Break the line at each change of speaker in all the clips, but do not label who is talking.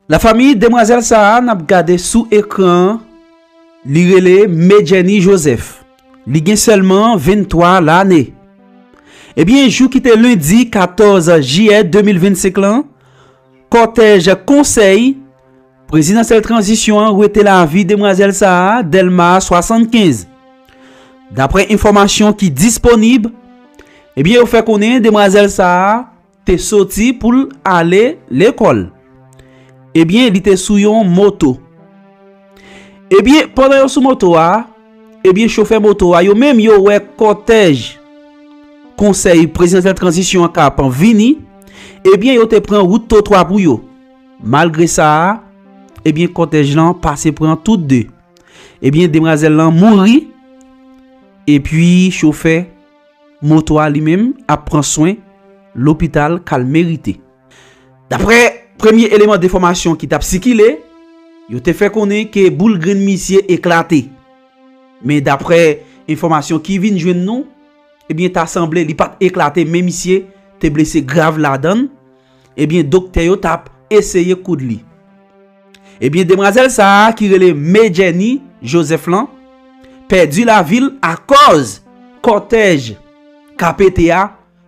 La famille demwazèl sa a nap gade sou ekran an li rele Medjeny Joseph li gen sèlman 23 lane ebyen jou ki te lendi 14 jiyè 2025 lan kòtèj konsèy prezidansyèl tranzisyon an wete lavi demwazèl sa a Dèlma 75 daprè enfòmasyon ki disponib ebyen yo fè konnen demwazèl sa a te soti pou l ale lekòl. Ebyen, li te sou yon moto. Ebyen, pandan yo sou moto a, ebyen chofè moto a yo menm yo wè kòtèj Konsèy Prezidansyèl Tranzisyon an k ap vini, ebyen yo te pran wout twotwa pou yo. Malgre sa a, ebyen kòtèj lan pase pran tout de. Ebyen demwazèl lan mouri, epi chofè. Moto a li menm ap pran swen lopital kal merite. Daprè premye eleman defòmasyon ki tap sikile, yo te fè konnen ke boul grenn misye eklate. Men daprè enfòmasyon ki vin jwenn nou, ebyen ta sanble li pat eklate men misye te blese grav ladann, Ebyen doktè yo tap eseye koud li. Ebyen demwazèl sa a ki rele Me Jenny Joseph lan pèdi lavi l akòz kòtèj ka pete a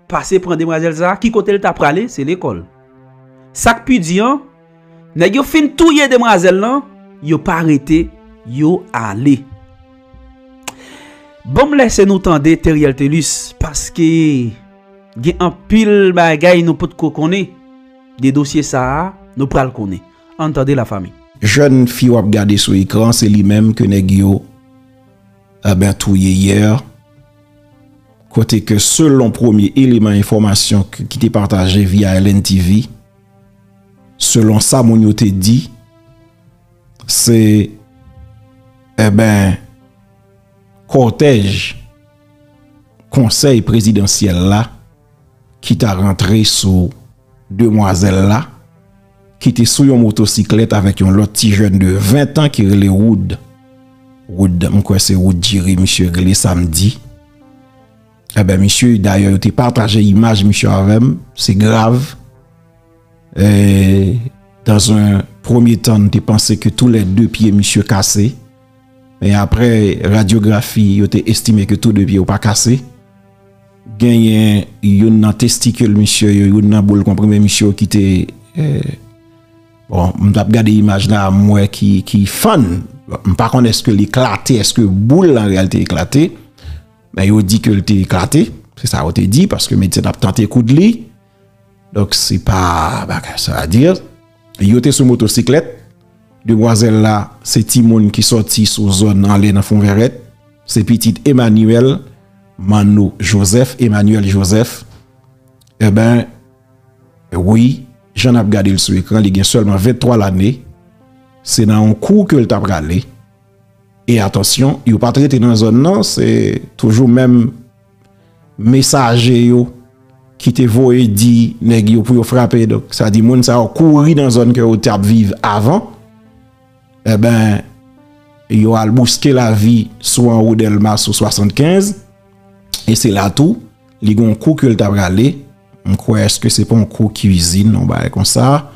pase pran demwazèl sa a ki kote l ta prale se lekòl. Sak pi di an nèg yo fin touye demwazèl lan yo pa rete yo ale. Banm lèse nou tande Theriel Thelus paske. Gen anpil bagay nou potko konnen de dosye sa a, nou pral konnen. Ann tande la fanmi. Jèn fi wap
gade sou ekran se li menm ke nèg yo ebyen touye yè, kote ke selon premye eleman enfòmasyon ki te pataje via LNTV, selon sa moun yo te di, se ebyen kòtèj. konsèy prezidansyèl la ki ta rantre sou demwazèl la ki te sou yon motosiklèt avèk yon lòt ti jèn de 20 tan ki rele Wood. Wood, m kwè se Wood Diri misye rele sa m di. Enben misye, dayè yo te pataje imaj misye avè m, se grav. E, dan zon premye tan m te panse ke tou lè 2 pye misye kase. Men aprè radyografi yo te estime ke tou 2 pye yo pa kase. Genyen youn nan testikil misye yo, youn nan boul konprime misye yo ki te bon m tap gade imaj la m wè ki fann. M pa konn eske li eklate, eske boul la anrealite eklate. Men yo di ke li te eklate, se sa yo te di paske medsen tap tante koud li. Donk se pa bagay sa a dire. Yo te sou motosiklèt. Demwazèl la se timoun ki sòti sou zòn anlè nan Fonvèrèt. Se pitit Emmanuel Manno Joseph, Emmanuel Joseph. Enben, wi, jan n ap gade l sou ekran, li gen sèlman 23 lane. Se nan yon kou ke l ta prale. E atansyon, yo pa t rete nan zòn nan, se toujou menm. Mesaje yo ki te voye di nèg yo pou yo frape donk sa di moun sa yo kouri nan zòn ke yo tap viv avan enben yo al bouske lavi sou anwo delma sou 75 e se la tou li gon kou ke l ta prale m kwè eske se pon kou kizin yon bagay konsa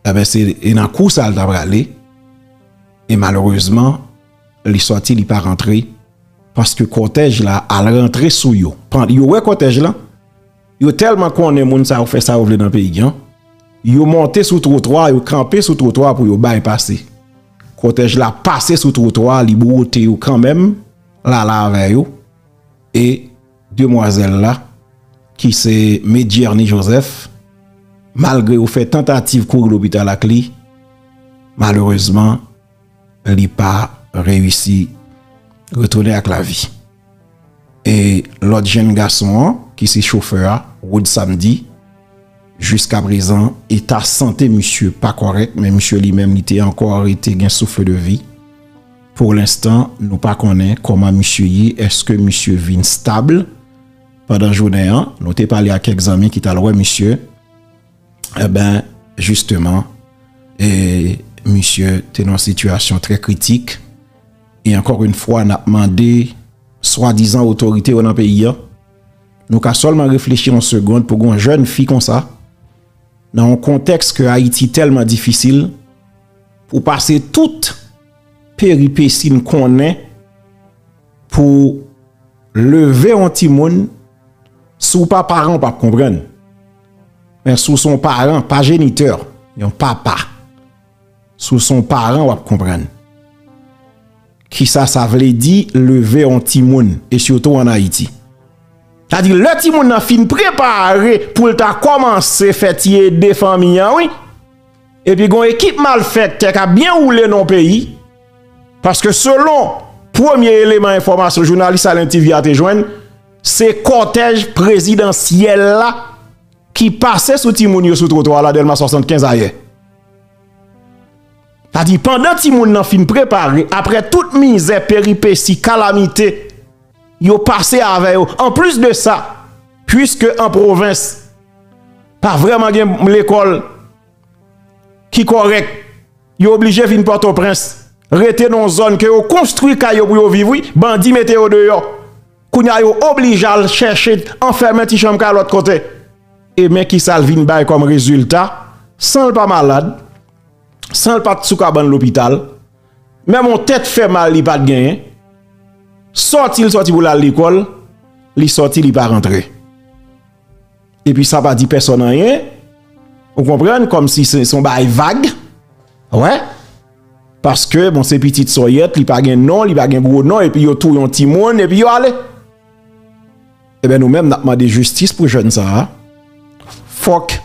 enben se nan kou sa l ta prale e malerezman Li sòti li pa rantre paske kòtèj la al rantre sou yo. Yo wè kòtèj la, yo tèlman konnen moun sa yo fè sa yo vle nan peyi an, yo monte sou twotwa, yo kanpe sou twotwa pou yo bay pase. Kòtèj la pase sou twotwa, li bwote yo kanmenm, lala avè yo, e demwazèl la ki se Medjerni Jozèf, malgre yo fè tantativ kouri lopital ak li, malerezman, li pa reyisi retounen ak lavi. E lòt jenn gason an ki se chofè a, Wood Samedi, jiskaprezan eta sante misye pa kòrèk men misye li menm li te ankò rete gen souffle de vie. Pou lenstan nou pa konnen kòman misye ye, èske misye vin stable? Pandan jounen an, nou te pale ak kèk zanmi ki t al wè misye. E ben, jisteman, e misye te nan sitiyasyon trè kritik. E ankor yn fwa n ap mande swadizan otorite yo nan peyi an, nou ka sèlman reflechi yon segond pou gon jèn fi konsa nan yon kontèks ke Ayiti tèlman difisil pou pase tout peripesi n konnen pou leve yon timoun, si w pa paran w pa p konprann. Men si w son paran, pa jenitè, yon papa, si w son paran wap konprann kisa sa vle di leve yon timoun e sitou an Ayiti. Sa di lè timoun nan fin prepare pou l ta kòmanse fè ti ede fanmi an wi e pi gon ekip malfèktè kap byen woule nan yon peyi paske selon premye eleman enfòmasyon jounalis Alain TV a te jwenn Se kòtèj prezidansyèl la ki pase sou timoun yo sou twotwa la Dèlma 75 ayè. Sa di pandan timoun nan fin prepare apre tout mizè, peripesi, kalamite yo pase avè yo. An plis de sa, pwiske an pwovens pa vreman gen lekòl ki korèk, yo oblije vin Pòtoprens, rete nan zòn ke yo konstwi kay yo pou yo viv wi, bandi mete yo deyò. Kounya yo oblije al chèche anfèmen ti chanm kay lòt kote. E men kisa l vin bay kòm rezilta, san l pa malad, san l pa t sou kabann lopital, menm yon tèt fè mal li pa t genyen, sòti l sòti pou l al lekòl, li sòti li pa rantre. Epi sa pa di pèsòn anyen, ou konprann, kòmsi se yon bagay vag, wè, paske bon se pitit sòyèt, li pa gen non, li pa gen gwo non, epi yo touye yon timoun, epi yo ale. Eben nou menm nap mande jistis pou jèn sa a, fòk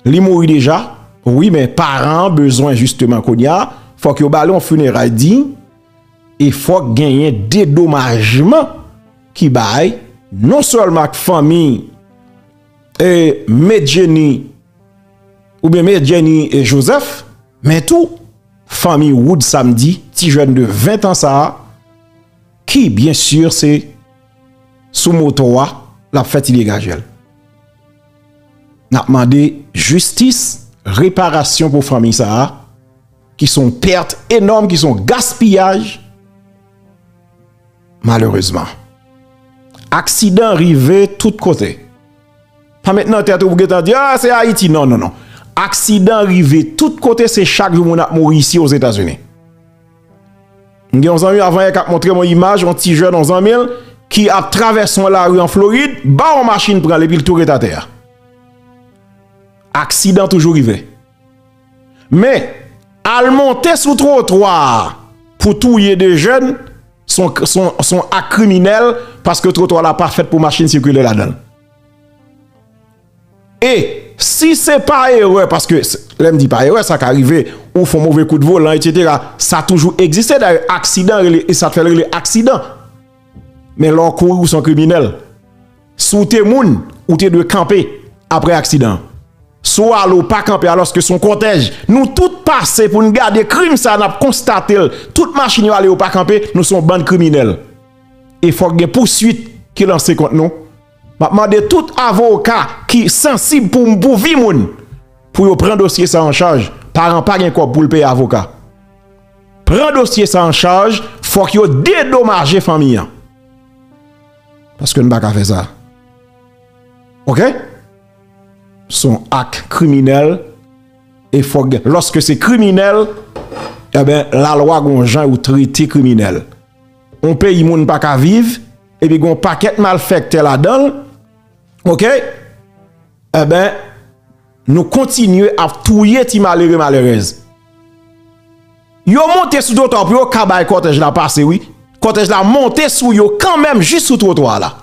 li mouri deja, wi men paran bezwen jisteman kounye a, fòk yo ba li yon fineray diy, E fòk genyen dedomajman ki bay non sèlman ak fanmi e Me Jenny ou byen Me Jenny e Joseph men tou fanmi Wood Samedi ti jèn de 20 an sa a ki byen sur se sou moto a l ap fè ti degaje l. N ap mande jistis reparasyon pou fanmi sa a. Ki son perte enorme, ki son gaspillage. Malereusement. Aksidan rive tout kote. Pa met nan tete ou pou gen tan di, ah se Haiti. Non, non, non. Aksidan rive tout kote, se chak jou moun ap mouri isi o Zeta Zuni. M gen yon zanmi avan yè kap montre mwen imaj, yon ti jèn yon zanmi l, ki ap travèse yon lari an Florid, ba yon machin pran l epi l tou ret atè a. Aksidan toujou rive. Men, al monte sou twotwa a pou touye 2 jèn, son ak kriminèl paske twotwa la pa fèt pou machin sikile ladan l. E, si se pa erè, paske lè m di pa erè, sa ka rive ou fon move kout volan, etsetera, sa toujou egziste dayè, aksidan rele, e sa fè l rele aksidan. Men lè w kouri ou son kriminèl. Si w te moun, ou te dwe kanpe apre aksidan an. Si w ale, w pa kanpe alòske se yon kòtèj. Nou tout pase pou n gade krim sa a, n ap konstate l. Tout machin yo ale, yo pa kanpe, nou se yon bann kriminèl. E fòk gen pouswit ki lanse kont nou. M ap mande tout avoka ki sansib pou pou vi moun, pou yo pran dosye sa an chaj. Paran pa gen kòb pou l peye avoka. Pran dosye sa an chaj, fòk yo dedomaje fanmi an. Paske n pa ka fè sa. Ok? Son ak kriminèl e fòk gen. Lòske se kriminèl, e ben la lwa gon jan yo trete kriminèl. On peyi moun pa ka viv, e pi gon pakèt mal fèktè la dan. Ok? E ben, nou kontinye ap touye ti malere malerez. Yo monte sou twotwa pou yo ka bay kòtèj la pase wi. Kòtèj la monte sou yo kanmenm jis sou twotwa la.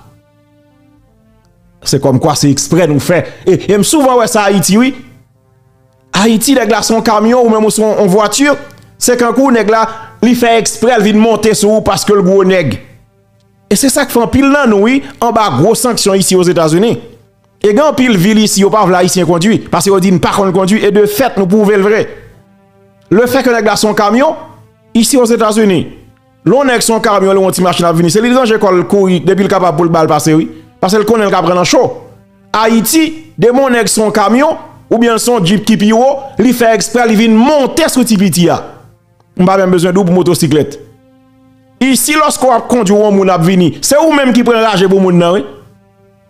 Se kòmkwa se eksprè nou fè. E m souvan wè sa Ayiti wi. Ayiti nèg la son kamyon ou menm ou son on vwati. Se kankou nèg la li fè eksprè l vin monte sou ou paske l gwo nèg. E se sa k fè anpil nan nou wi anba gwo sanksyon isi Ozetazini. E gen anpil vil isi yo pa vle ayisyen kondwi pase yo di n pa konn kondwi e de fèt nou pwouve l vre. Lefè ke nèg la se yon kamyon, isi o Zetazini lè yon nèg se yon kamyon li wè yon ti machin ap vini se li l ranje kò l kouri depi l kapab pou l ba l pase wi pase l konnen l ka pran nan cho. Ayiti demen yon nèg se yon kamyon oubyen l se yon djip ki pi wo li fè ekspre li vin monte sou ti piti a. M pa menm bezwen di w pou motosiklèt. Isi lòske w ap kondwi yon moun ap vini se ou menm ki pran raje pou moun nan wi.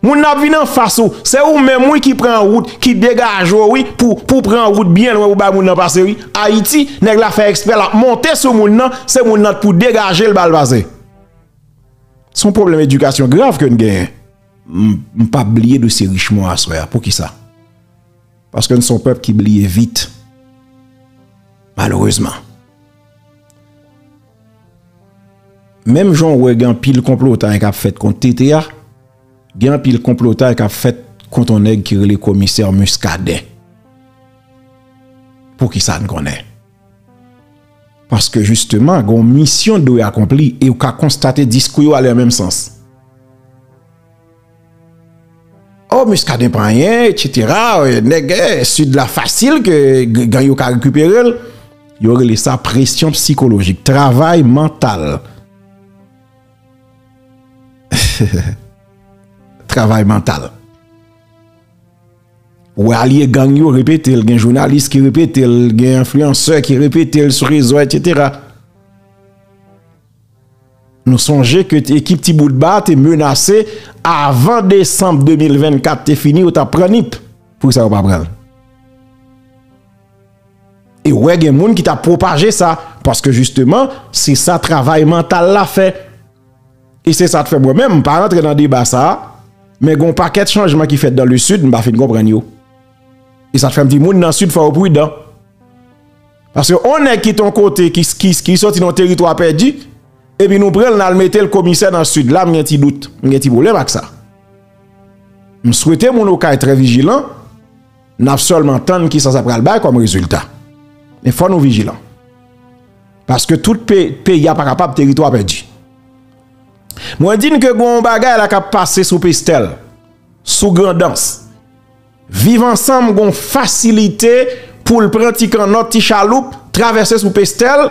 Moun nan ap vin anfas ou, se ou menm wi ki pran wout, ki degaje w wi pou pou pran wout byen lwen pou bay moun nan pase wi. Ayiti, nèg la fè ekspre l ap monte sou moun nan, se moun nan t pou degaje l ba l pase. Se yon pwoblèm edikasyon grav ke n genyen. M pa p bliye dosye Richemond aswè a, poukisa? Paske n se yon pèp ki bliye vit. Malerezman. Menm jan w wè gen anpil konplotay k ap fèt kont TT a, gen anpil konplotay k ap fèt kont yon nèg ki rele Komisè Muscadin. Pou ki sa n konnen? Paske jisteman gen yon misyon dwe akonpli e ou ka konstate diskou yo ale nan menm sans. Oh Muscadin pa anyen etc nèg sud la fasil ke gang yo ka rekipere l. Yo rele sa presyon psikolojik. Travay mantal. Travay mantal. Ou wè alye gang yo repete l. Gen jounalis ki repete l. Gen enfliyansè ki repete l sou rezo etc. Nou sonje ke ekip Ti Bout Ba te menase avan desanm 2024 te fini yo ta pran Nip. Poukisa yo pa pran l? E wè gen moun ki ta pwopaje sa paske jisteman se sa travay mantal la fè. E se sa k fè mwen menm m pa rantre nan deba sa a men gen yon pakèt chanjman ki fèt dan le Sid m pa fin konprann yo. E sa k fè m di moun nan Sid fò yo pridan. Paske yon nèg ki ton kote ki soti nan teritwa pèdi epi nou pran l nan mete l komisè nan sid la m gen ti dout, m gen ti pwoblèm ak sa. M swete moun okay trè vijilan n ap sèlman tann kisa sa pral bay kòm rezilta. Men fò nou vijilan. Paske tout peyi a pa kapab teritwa pèdi. Mwen di n ke gon yon bagay la k ap pase sou Pestel, sou Grandans. Viv ansanm gon fasilite poul pran ti kannòt ti chaloup travèse sou pestèl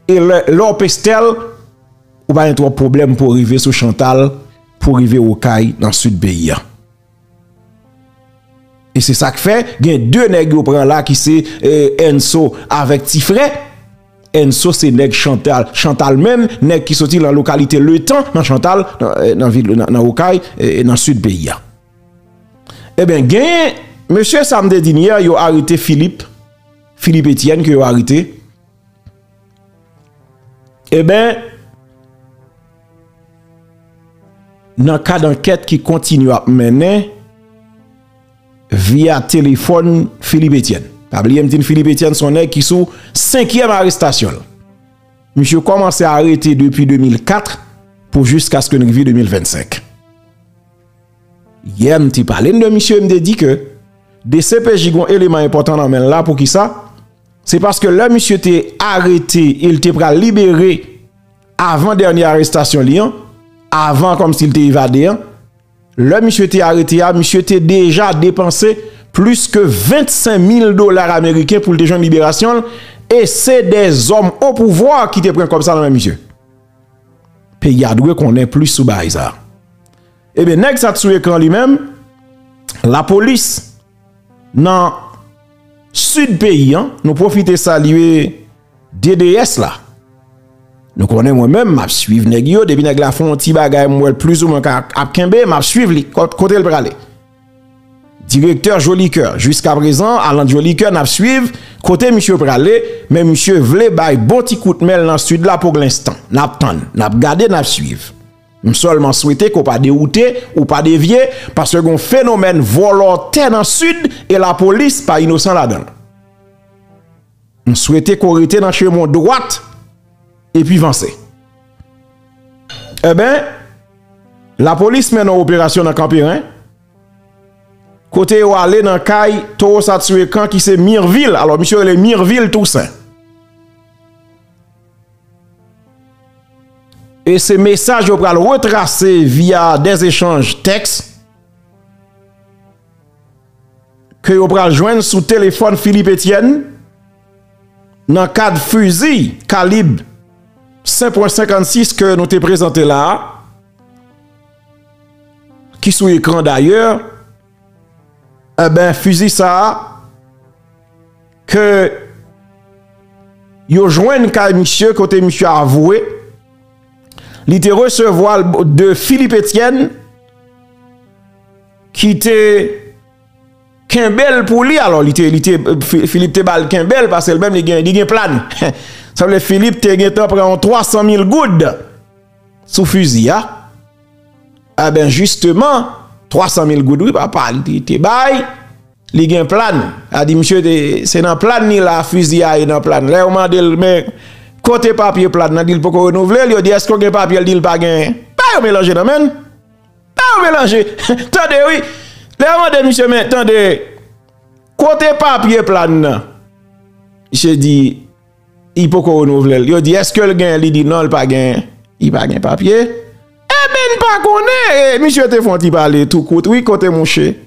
e lè w pestèl ou pa gen twòp pwoblèm pou w rive sou chantal pou w rive okay nan sud peyi an e se sak fè gen 2 nèg yo pran la ki se enso avèk ti frè enso se nèg chantal chantal menm nèg ki soti nan lokalite letan nan chantal nan okay nan sud peyi an. Ebyen genyen mesye sa m te di n yè yo arete Philippe, Philippe Etienne ke yo arete ebyen nan kad ankèt ki kontinye ap mennen via telefòn Philippe Etienne. Pa bliye m di n Philippe Etienne son nèg ki sou senkyèm arestasyon l. Misye kòmanse arete depi 2004 pou jiskaske n rive 2025. Yè m te pale n de misye, m te di ke dcpj gon eleman enpòtan nan men l la, poukisa? Se paske lè misye te arete e l te pral libere avan dènye arestasyon li an, avan kòm si l te evade an, lè misye te arete a, misye te deja depanse plis ke 25 mil dolar ameriken pou l te jwenn liberasyon l e se de zòm opouvwa ki te pran kòb sa nan men misye. Peyi a dwe konnen plis sou bagay sa. Ebyen nèg sa t sou ekran li menm lapolis nan Sid peyi an nou pwofite salye DDS la. Nou konnen mwen menm map swiv nèg yo depi nèg la fon ti bagay mwen plis ou mwen ap kenbe map swiv li kote l prale. Direktè Jolicoeur jiska prezan Alan Jolicoeur nap swiv kote misye prale men misye vle bay bon ti kout menl nan sud la poglanstan nap tann nap gade nap swiv m sèlman swete ke w pa dewoute ou pa devye paske gon fenomèn vòlò tè nan sud e lapolis pa inosan ladanl. M swete ke w rete nan chemen w dwat epi vanse. Enben, lapolis mennen yon operasyon nan Kanperen, kote yo ale nan kay towo sa tue kan ki se Mirvil, alò misye rele Mirvil Tousen. E se mesaj yo pral retrase via dèz echanj tèks. ke yo pral jwenn sou telefòn Philippe Etienne nan kad fizi kalib 5 pwen 56 ke nou te prezante la a, ki sou ekran dayè, e ben fizi sa a ke yo jwenn kay misye kote misye avoue li te resevwa l de Philippe Etienne. Ki te kenbel pou li alò li te li te Philippe te bal kenbel pasel menm li gen li gen plan sa vle Philippe te gen tan pran yon 300 mil goud sou fuzi a eben jisteman 300 mil goud wi papa li te bay li gen plan a di misye te se nan plan ni la fuzi a ye nan plan lè ou mande l men kote papye plan nan di l poko renouvle l yo di eske ou gen papye l di l pa gen pa yo melanje nan menn Eeh ou melanje tande wi lè yo mande misye men tande kote papye plan nan misye di li poko renouvle l yo di eske l gen li di non li pa gen li pa gen papye eh ben n pa konnen misye te fon ti pale tou kout wi kote mouche.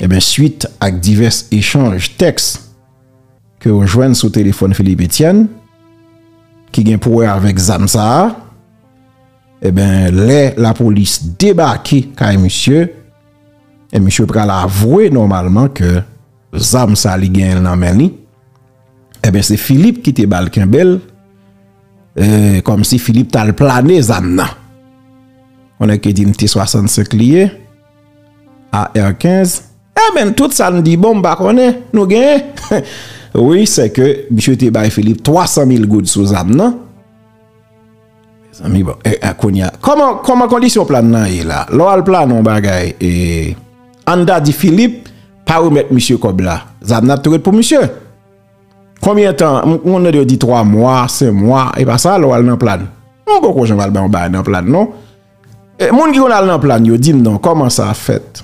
Enben, swit ak divès echanj tèks ke yo jwenn sou telefòn Philippe Etienne ki gen pou wè avèk zam sa a, enben, lè lapolis debake kay misye, e misye pral avwe nòmalman ke zam sa li genyen nan men li, enben, se Philippe ki te ba l kenbe l, e kòmsi Philippe t al plane zam nan. Yon nèg ki di m T-65 li ye. AR 15, Amen tout sa n di bon m pa konnen nou genyen wi se ke misye te bay Philippe 300 mil goud sou zam nan Mezanmi bon e kounye a kòman kondisyon plan nan ye la lè w al plane yon bagay e an n ta di Philippe pa remèt misye kòb la zam nan ap toujou ret pou misye konbyen tan m konn tande yo di 3 mwa 5 mwa e pa sa lè w al nan plane m poko janm al bay yon bagay nan plane non. Moun ki konn al nan plane yo dim non koman sa fèt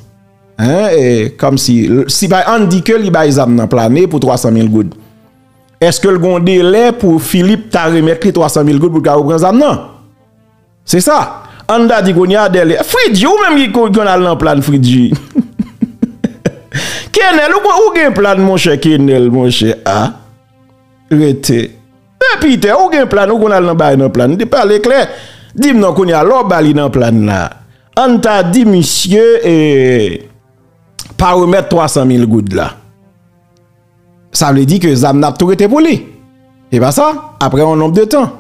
hein e kom si si bay an di ke li bay zam nan plane pou 300 mil goud eske l gon delè pou Philippe ta remèt li 300 mil goud pou l ka repran zam nan se sa an ta di kounye a dèle Fritji ou menm ki konn al nan plane Fritji Kenel ou gen plane monchè Kenel monchè a rete. Pè Peter ou gen plan ou konn al nan bay nan plan di pale klè dim non kounya lè w ba li nan plan la ann ta di misye pa remèt 300 mil goud la sa vle di ke zam nan ap tou rete pou li e pa sa apre yon nonb de tan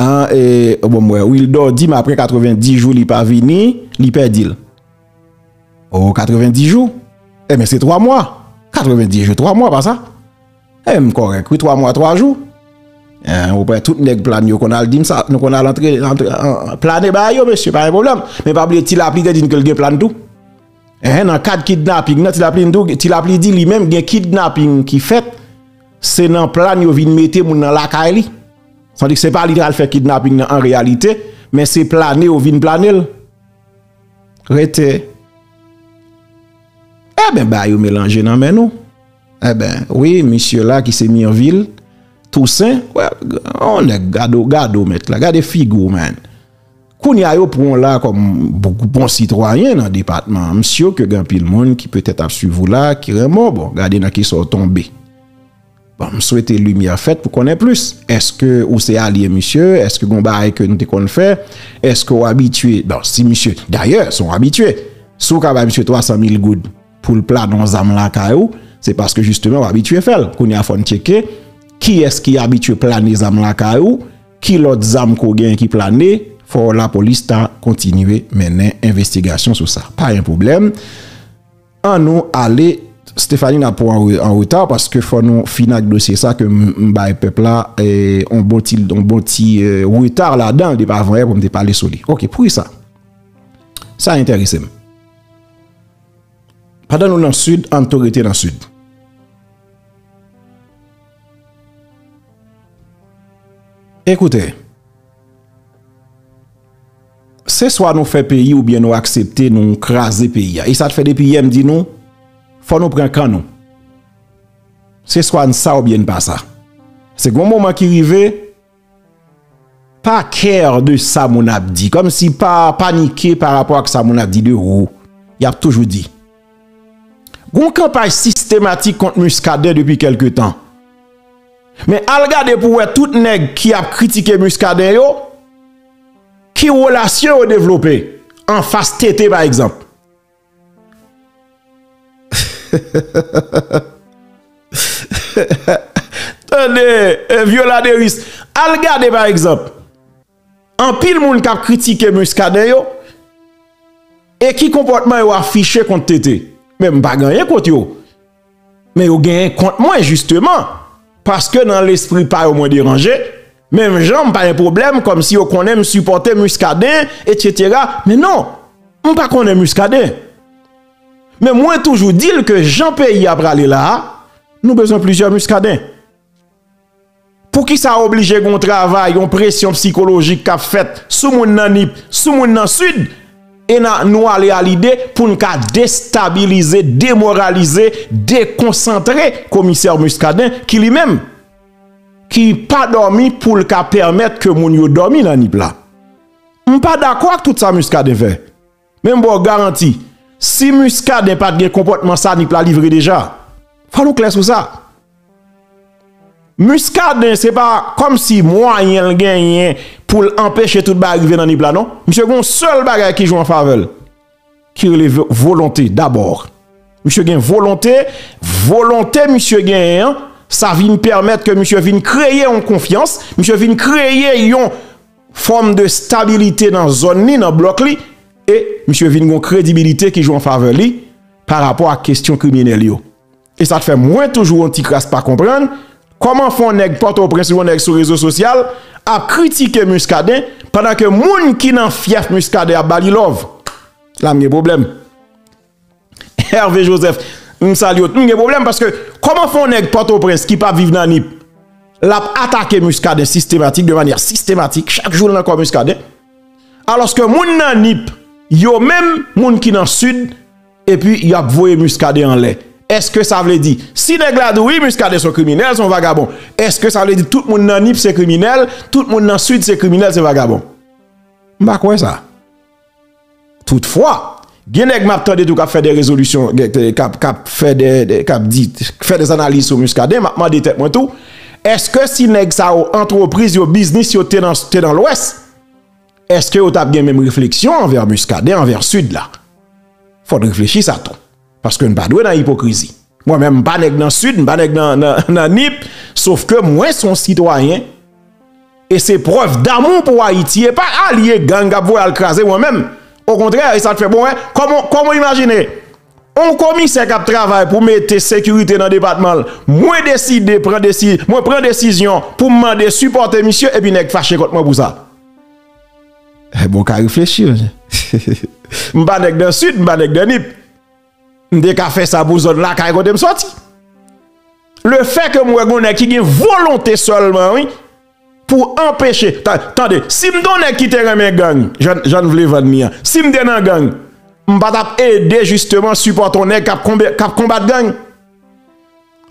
an e bon mwen wil do di m apre 90 jou li pa vini li pè dil o 90 jou e men se 3 mwa 90 jou 3 mwa pa sa. E m korèk wi 3 mwa 3 jou. Ou wè tout nèg plane yo konn al di m sa. Nou konn al antre plane ba yo mesye pa gen pwoblèm. Men pa bliye ti lapli te di n ke l gen plane tou. E nan kad kidnaping nan ti lapli di li menm gen kidnaping ki fèt. Se nan plane yo vin mete moun nan lakay li. San di se pa li te al fè kidnaping nan an reyalite. Men se plane yo vin plane l. Rete. E ben ba yo melanje nan men nou. Enben, wi, misye la ki se Mirville Toussaint, yon nèg, gade w, gade w mèt la, gade figi w menn. Kounye a yo pran w la kòm bon sitwayen nan depatman an. M sye ke gen anpil moun ki petèt ap swiv ou la ki renmen w. Bon, gade nan ki sa w tonbe. Bon, m swete limyè fèt pou konnen plis. Eske ou se alye misye? Eske gen yon bagay ke nou te konn fè? Eske ou abitye? Bon, si misye, dayè, se yon abitye. Si w ka bay misye 300 mil goud. poul planon zam lakay ou se paske jisteman ou abitye fèl kounye a fòn tcheke kiyès ki abitye plane zam lakay ou ki lòt zam kou gen ki plane fò la polis ta kontinye mennen envestigasyon sou sa pa yon problem an nou ale Stéphanie na pou an reta paske fò nou finak dosye sa ke m bay pèp la on bon ti on bon ti reta la dan de pa vwè pou m te pale sou li ok pou ki sa sa enteresem. Pandan nou nan sid ann tou rete nan sid. Ekoute. Se swa nou fè peyi ou byen nou aksepte nou kraze peyi a. E sa te fè depi yè m di nou fò nou pran kan nou. Se swa n sa ou byen n pa sa. Se gon moman ki rive. Pa care de sa moun ap di. Komsi pa panike pa rapo ak sa moun ap di de ou. Yap toujou di. Gon kanpay sistematik kont Muscadin depi kelke tan. Men al gade pou we tout neg ki ap kritike Muscadin yo, ki relasyon yo devlope anfas TT pa egzanp. Tande Viola Deris, al gade pa egzanp, anpil moun k ap kritike Muscadin yo, e ki konpòtman yo afiche kont TT? Men m pa gen anyen kont yo. Men yo genyen kont mwen jisteman, paske nan lespri pa yo mwen deranje, menm jan m pa gen pwoblèm kòm si yo konnen m sipòte Muscadin, etsetera, men non, m pa konnen Muscadin. Men mwen toujou di l ke jan peyi a prale la a, nou bezwen plizyè Muscadin. Poukisa oblije gon travay, yon presyon psikolojik kap fèt sou moun nan Nip, sou moun nan Sid, e nan nou ale a lide pou n ka destabilize, demoralize, dekonsantre komisè Muscadin ki li menm, ki pa dòmi pou l ka pèmèt ke moun yo dòmi nan Nip la. M pa dakò ak tout sa Muscadin fè. Men m baw garanti, si Muscadin pat gen konpòtman sa Nip la livre deja. Fò nou klè sou sa. Muscadin se pa kòm si mwayen l genyen pou l anpeche tout bagay rive nan Nip la non. Misye gon sèl bagay ki jwe an favè l. Ki rele volonte dabor. Misye gen volonte, volonte misye genyen an, sa vin pèmèt ke misye vin kreye yon konfyans, misye vin kreye yon. fòm de stabilite nan zòn li, nan blòk li, e misye vin gon kredibilite ki jwe an favè li pa rapò ak kestyon kriminèl yo. E sa k fè mwen toujou yon ti kras pa konprann, kòman fè yon nèg Pòtoprens ou yon nèg sou rezo sosyal ap kritike Muscadin pandan ke moun ki nan fyèf Muscadin ap ba li love? La m gen pwoblèm. Hervé Joseph m salye w t m gen pwoblèm paske kòman fè yon nèg pòtoprens ki pa viv nan nip l ap atake Muscadin sistematik de manyè sistematik chak jou l nan kò Muscadin alòske moun nan nip yo menm moun ki nan sid epi y ap voye Muscadin anlè èske sa vle di si nèg la di wi Muscadin son kriminèl son vagabon èske sa vle di tout moun nan nip se kriminèl tout moun nan sid se kriminèl se vagabon m pa kwè sa. Toutfwa, gen nèg map tande tou kap fè de rezolisyon, kap fè de, kap di, kap fè de analiz sou Muscadin, map mande tèt mwen tou, eske si nèg sa yo, antrepriz yo, biznis yo te nan lwès, eske yo tap gen menm refleksyon anvè Muscadin, anvè Sid la? Fòn reflechi sa tou. Paske n pa dwe nan ipokrizi. Mwen menm m pa nèg nan Sid, m pa nèg nan Nip, sof ke mwen se yon sitwayen, e se prèv damou pou Ayiti, e pa alye gang kap voye al kraze mwen menm. Okontrè, e sa k fè bon wè, kòman w imajine, yon komisè kap travay pou mete sekirite nan depatman l, mwen deside, mwen pran desizyon pou m mande sipòte misye, epi nèg fache kont mwen pou sa. Bon ka reflechi wi. M pa nèg nan Sid, m pa nèg nan Nip. M te ka fè sa pou zòn lakay kote m soti. Le fè ke m wè gon nèg ki gen volonte sèlman wi pou anpeche. Tande, si m te yon nèg ki te renmen gang, jan n vle vann li an. Si m te nan gang, m pa t ap ede jisteman sipòte yon nèg k ap konbat gang.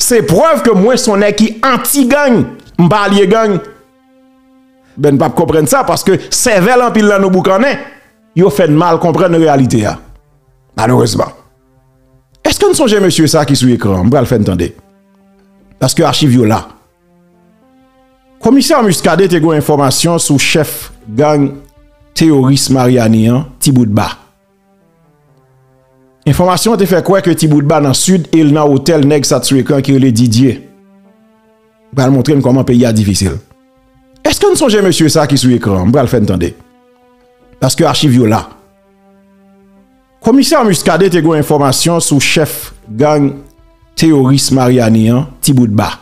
Se prèv ke mwen se yon nèg ki anti gang. M pa alye gang. Ben n pap konprann sa paske sèvèl anpil nan nou boukannen, yo fè n mal konprann reyalite a. Malerezman. Eske n sonje mesye sa ki sou ekran an? M pral fè n tande. Paske achiv yo la. Komisè Muscadin te gen yon enfòmasyon sou chèf gang teyoris Maryani an, Tiboutba. Enfòmasyon an te fè kwè ke Tiboudba nan Sid e l nan otèl nèg sa t sou ekran ki rele Didye. M pral montre n kòman peyi a difisil. Eske n sonje mesye sa ki sou ekran an? M pral fè n tande. Paske achiv yo la. Komisè Muscadin te gen yon enfòmasyon sou chèf gang teyoris Maryani an, Tiboudba.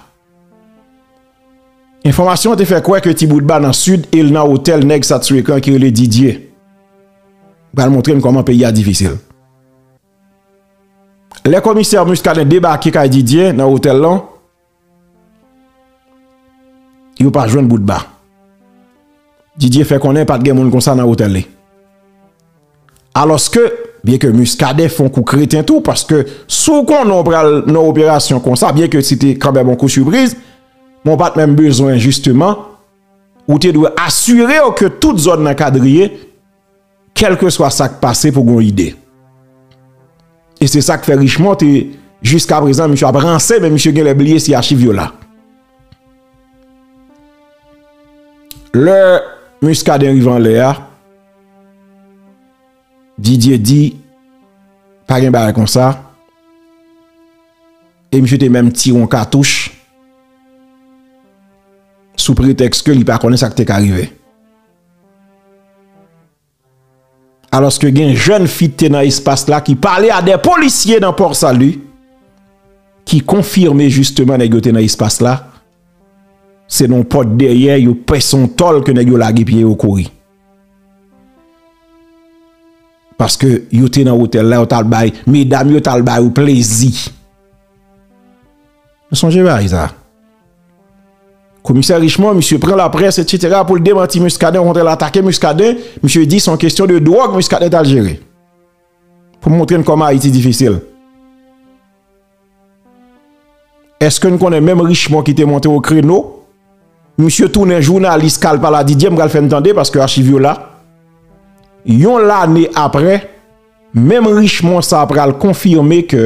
Enfòmasyon te fè kwè ke Tiboudba nan Sid e l nan otèl nèg Satsuekan ki rele Didye. M pral montre n kòman peyi a difisil. Lè komisè Muscadin debake kay Didye nan otèl lan, yo pa jwenn Boudba. Didye fè konnen pa t gen moun konsa nan otèl li. Alòske, byen ke Muscadin fon kou kreten tou, paske si w konnen w pral nan yon operasyon konsa, byen ke se te kanmèm yon kou sipriz, men w pat menm bezwen jisteman, ou te dwe asire w ke tout zòn nan kadrye, kèlkeswa sa k pase pou gen yon ide. E se sa k fè Richemond te, jiskaprezan misye ap ranse, men misye genlè bliye si achiv yo la. Lè Muscadin rive anlè a, Didier di pa gen bagay konsa e misye te menm tire yon katouch sou pretèks ke li pa konnen sa ki te ka rive. Alòske gen jèn fi ki te nan espas la ki pale a 2 polisye nan Port Salut ki konfime jisteman nèg yo te nan espas la se nan yon pòt dèyè yo pèse yon tòl ke nèg yo lage pye yo kouri. Paske yo te nan otèl la yo tal bay medam yo tal ba yo plezi. Nou sonje bagay sa. Komisè Richemond misye pran la près etc pou l demanti Muscadin okontrè l atake Muscadin misye di son kestyon de dwòg Muscadin tal jere. Pou montre n kòman Ayiti difisil. Eske n konnen menm Richemond ki te monte o kreno, misye tounen jounalis kal pala Didier, m pral fè n tande paske achiv yo la. Yon lane aprè, menm Richemond sa pral konfime ke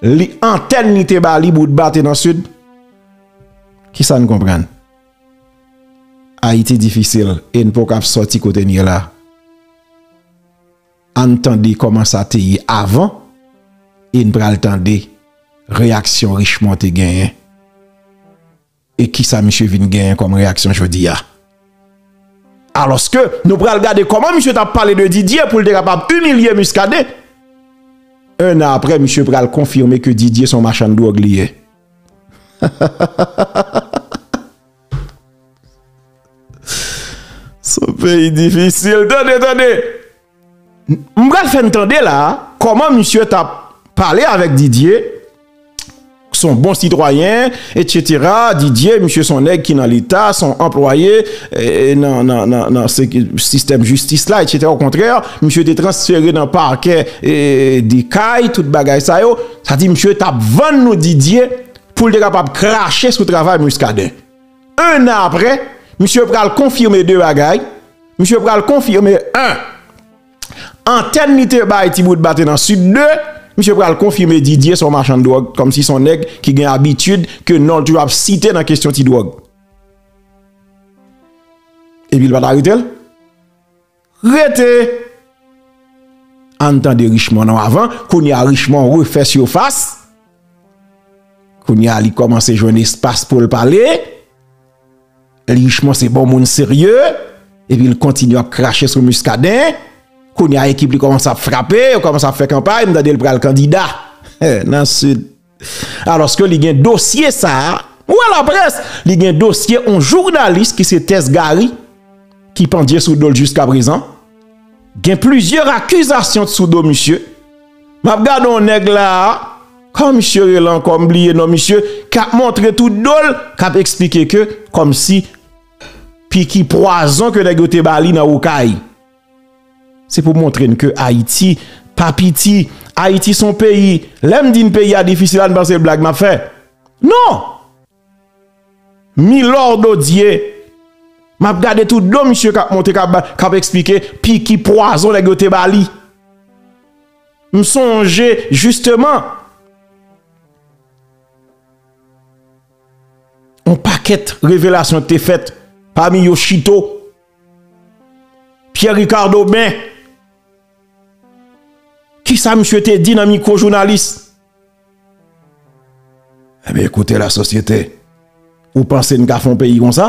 li antèn li te ba li boutba te nan Sid. Ki sa n konprann? Ayiti difisil e n poko ap sòti kote n ye la. Ann tande kòman sa te ye avan e n pral tande reyaksyon Richemond te genyen e kisa misye vin genyen kòm reyaksyon jodi a. Alòske nou pral gade kòman misye t ap pale de Didier pou l te kapab imilye Muscadin. 1 an aprè misye pral konfime ke Didier se yon machann dwòg li ye. Son peyi difisil. Tande, tande. M pral fè n tande la, kòman misye t ap pale avèk Didye, s on bon sitwayen, etsetera, Didye, misye s on nèg ki nan leta, s on anplwaye nan sistèm jistis la, etsetera, okontrè, misye te transfere nan pakè de Kay, tout bagay sa yo, sa di misye t ap vann nou Didye. Pou l te kapab krache sou travay Muscadin. 1 an aprè, misye pral konfime 2 bagay, misye pral konfime 1, antèn li te bay ti bout bate nan Sid, 2, misye pral konfime Didier se yon machann dwòg, kòmsi se yon nèg ki gen abitid ke non l toujou ap site nan kesyon ti dwòg. Epi l pa t arete l? Rete! Ann tande Richemond non avan, kounye a Richemond refè sifas, kounye a li kòmanse jwenn espas pou l pale, li Richemond se bon moun serye, epi l kontinye ap krache sou Muscadin, kounye a ekip li kòmanse ap frape, yo kòmanse ap fè kanpay, m tande l pral kandida, nan Sid. Alòske li gen dosye sa a, ou wè laprès, li gen dosye yon jounalis ki se Tess Garry ki pandye sou do l jiskaprezan. Gen plizyè akizasyon sou do misye. M ap gade yon nèg la a, kòman misye rele ankò m bliye non misye, k ap montre tout do l, k ap esplike ke kòmsi piki pwazon ke nèg yo te ba li nan Okay. Se pou montre n ke Ayiti pa piti. Ayiti son peyi. Lè m di n peyi a difisil la, n panse se blag m ap fè. Non! Milor Dodie, m ap gade tout do misye k ap monte, k ap esplike piki pwazon nèg yo te ba li. M sonje jisteman, yon pakèt revelasyon k te fèt, pami yo Chito. Pierre Ricard Aubin, kisa misye te di nan mikwo jounalis? Enben, koute la sosyete, ou panse n ka fon peyi konsa?